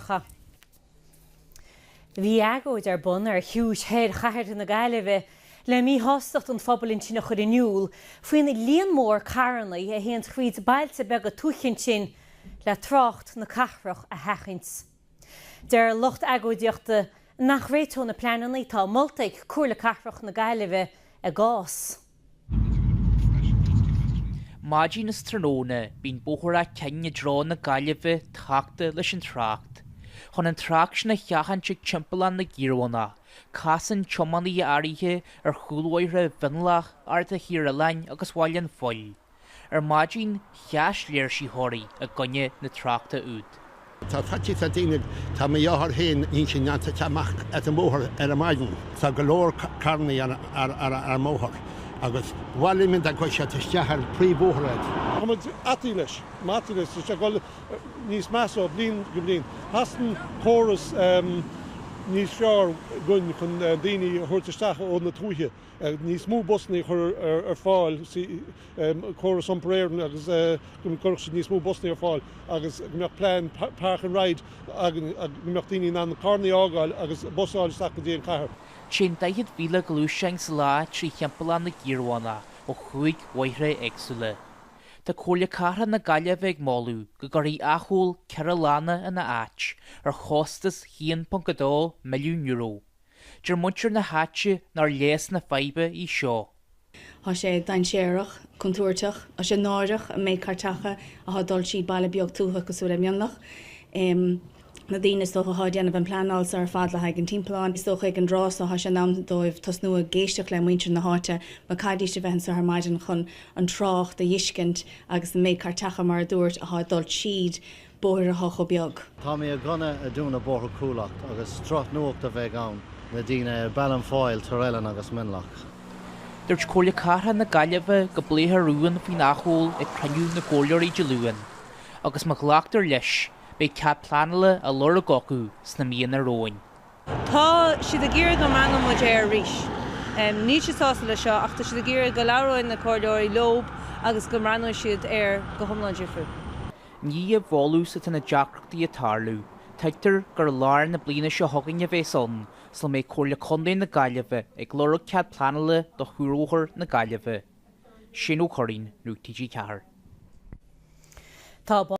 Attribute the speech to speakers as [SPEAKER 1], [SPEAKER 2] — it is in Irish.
[SPEAKER 1] Gaeltachta. Bhí agóid ar bun ar chiumhais thoir chathair na Gaillimhe le míshástacht an phobail ansin a chur in iúl faoin líon mór carranna a théann fríd bailte beaga tuaithe ansin le trácht na cathrach a sheachaint. Deir lucht agóidíochta nach réiteoidh na pleananna atá molta ag Comhairle Cathrach na Gaillimhe a gcás. Maidin is tráthnóna bíonn Bóthar Áth Cinn i dtreo na Gaillimhe tachta leis an trácht. Chun an trácht sin a sheachaint ag timpeallán na gCiarabhánach, casann tiománaithe áirithe ar chúlbhóithre Mhionlach, Arda Thír Oileáin agus Bhaile an Phoill. ar maidin sheas léirsitheoirí i gcoinne na tráchta úd. Tá faitíos ar daoine. Tá mo mháthair féin, níl sí in ann teacht amach as an mbóthar ar an maidin. Tá go leor carrannaí ar an mbóthar agus mhaith linn iad a choinneáil isteach ar an phríomhbhóthar ar. Tá muid báite leis. Báite leis is tá sé ag dul níos measa ó bhliain go bliain. Theastaíonn córas níos fearr againn chun daoine a thabhairt isteach ó na tuaithe. níos mó busanna a chur ar fáil sa chóras iompair Éireann agus go gcuirfeadh siad níos mó busanna ar fáil agus go mbeadh plean park and ride againn go mbeadh daoine in ann carranna a fhágáil agus bus a fháil isteach go dtí an chathair. Téann 40,000 gluaisteán sa lá trí Thimpeallán na gCiarabhánach ó chúig bhóithre éagsúla. Tá Comhairle Cathrach na Gaillimhe ag moladh go gcuirfí acomhal ceithre lána ina áit, ar chostas €1.2 milliún. Deir muintir na háite nár leigheas na faidhbe í seo. Thá sé dainséarach, contúirteach, thá sé náireach an méid cairteacha athá dul tríd baile beag tuaithe cosúil le Mionlach. Na daoine is dócha athá déanamh an pleanáil so ar fad le haghaidh an timpealláin, is dócha ag an dtráth so thá sé in am dóibh tosnú ag éisteacht le muintir na háite mar chaithfidís a bheith anso ar maidin chun an trácht a dh'fheiscint agus an méid cairteacha, mar a dúrt, athá dul tríd. bóithre thá chomh beag. Tá mé i gcoinne a dúnadh Bóthar Chúil Each agus drochnuacht a bheidh ann le daoine ar Baile an Phoill, Tír Oileáin agus Mionlach. Dúirt Comhairle Cathrach na Gaillimhe go bpléifear rún faoin acomhal ag cruinniú na gComhairleoirí Dé Luain agus má ghlactar leis beidh cead pleanála á lorg acu sna míonna romhainn. Tá siad ag iarraidh go mbreathnódh muid air arís. Níl siad sásta leis seo ach tá siad ag iarraidh go labhróidh na Comhairleoirí leob agus go mbreathnóidh siad air go hiomlán difriúil. I ndiaidh bhfolús atá na deacrachtaí ag tarlú, tuigtear gur i lár na bliana seo chugainn a bheas ann, sula mbeidh Comhairle Contae na Gaillimhe ag lorg cead pleanála do chuarbhóthar na Gaillimhe. Shane Ó Curraoin, nuacht TG4. Tá.